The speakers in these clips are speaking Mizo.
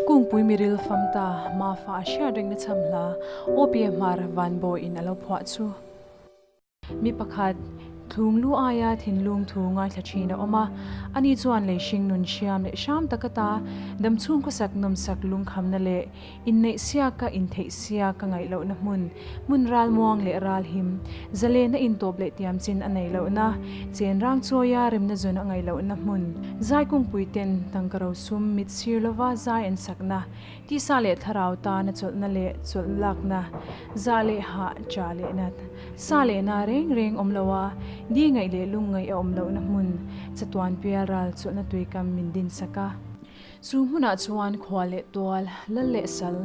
Kungpui Miril Famta Mafa a hriat reng na cham hla, Awpia Hmar vanbawi in alo phuah chu. Mi pakhat thlung lu aia thinlung thu ngaithla thin a awm a, ani chuan lei hring nun hriam leh hram taka ta, damchhung khawsak nawmsak lungkhamna leh inneihsiak ka intheihsiak ka ngaihlohna hmun, hmun ralmuang leh ralhim, Zalen a intawp leh tiam chin a nei lohna, chenrang chawia remna zawn a ngaih lohna hmun, zai kungpui ten, tangka ro sum, mit sir lova zai en sakna, tisa leh thlarau tana chawlhna leh chawlh lakna, zah leh hah ṭah lehna, sa lehna reng reng awm loa di ngaih leh lungngaih a awm lohna hmun, chatuan pial ral chawlhna tuikam min din saka. Chu hmunah chuan khua leh tual, lal leh sal,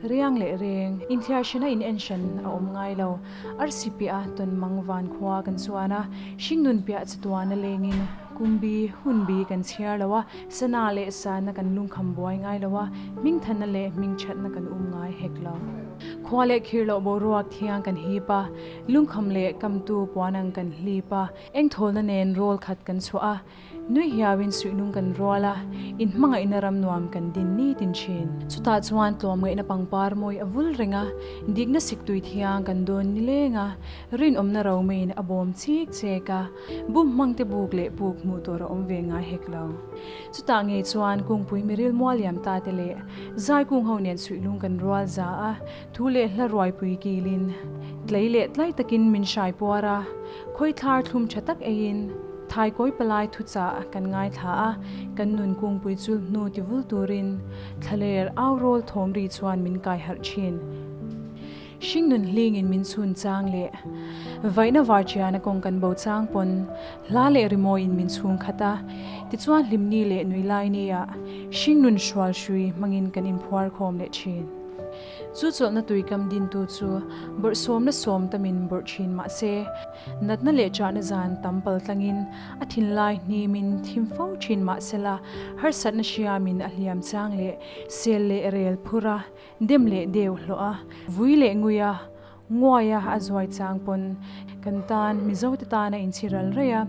riang leh reng, inthiarhrena inenhran a awm ngai lo. Arsipiaha tawn mang van khua kan chuan a, hringnun piah chatuana lengin Kumbi, Hunbi, kan chhiar lo a, sana leh sana kan lungkham buai ngai lo a, hmingthana leh hmingthatna kan um ngai hek lo. Khua leh khir loh boruak thiang kan hip a, lungkham leh kamtu puan ang kan hlip a, engthawlna nen rawl khat kan chhuah a, Nui hiauin suihnung kan rual a, in hmangaihna ram nuam kan din nitin thin. Chutah chuan tlawm ngaihna pangpar mawi a vul reng a, dikna sik tui thiang kan dawn ni leng a, rinawmna ro maiin a bawm chik chek a, bum hmangte buk leh puk hmuh tur a awm ve ngai hek lo. Chutah ngei chuan kungpui Miril Mualiam ta te leh Zai Kung ho nen suihlung kan rual za a, Thu leh hla ruaipui kilin tlei leh tlai takin min hraipuar a, khawithlar thlum tha tak eiin thaikawi palai thu chah kan ngaithla a, kan nun kungpui chulh hnu tivul turin thlaler au rawl thawm ri chuan min kaiharh thin. Hring nun hlingin min chhun chang leh vaihna var tiana kawng kan bo chang pawn hla leh rimawiin min chhung khat a, tichuan hlimni leh nuihlaini ah hring nun hrual hrui hmangin kan inphuar khawm leh thin. Chu chawlhna tui kam dintu chu bawrh sawmna sawm ta min bawrh thin mah se, natna leh chahna zan tam pal tlangin a thinlai hni min thim fo thin mah sela, harsatna hria min a hliam chang leh, sel leh rel phur a, dem leh deu hlawh a, vui leh ngui a, Nguaia a zuai chang pawn kan tan Mizote tana in chhi ral raih a,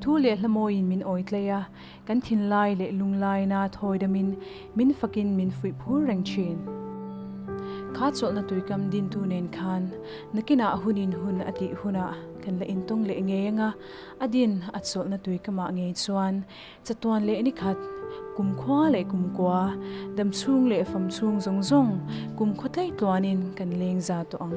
thu leh hlamawiin min awi tlaih a, kan thinlai leh lunglaina thawi damin min fakin min fuih phur reng thin. Kha chawlhna tuikam dintu nen khan nakinah hunin hun a tih hunah kan la intawng leh ngei anga, a din a chawlhna tuikamah ngei chuan Chatuan leh nikhat, kumkhua leh kumkua, damchhung leh famchhung zawng zawng kumkhua tlai tluanin kan leng za tawh ang.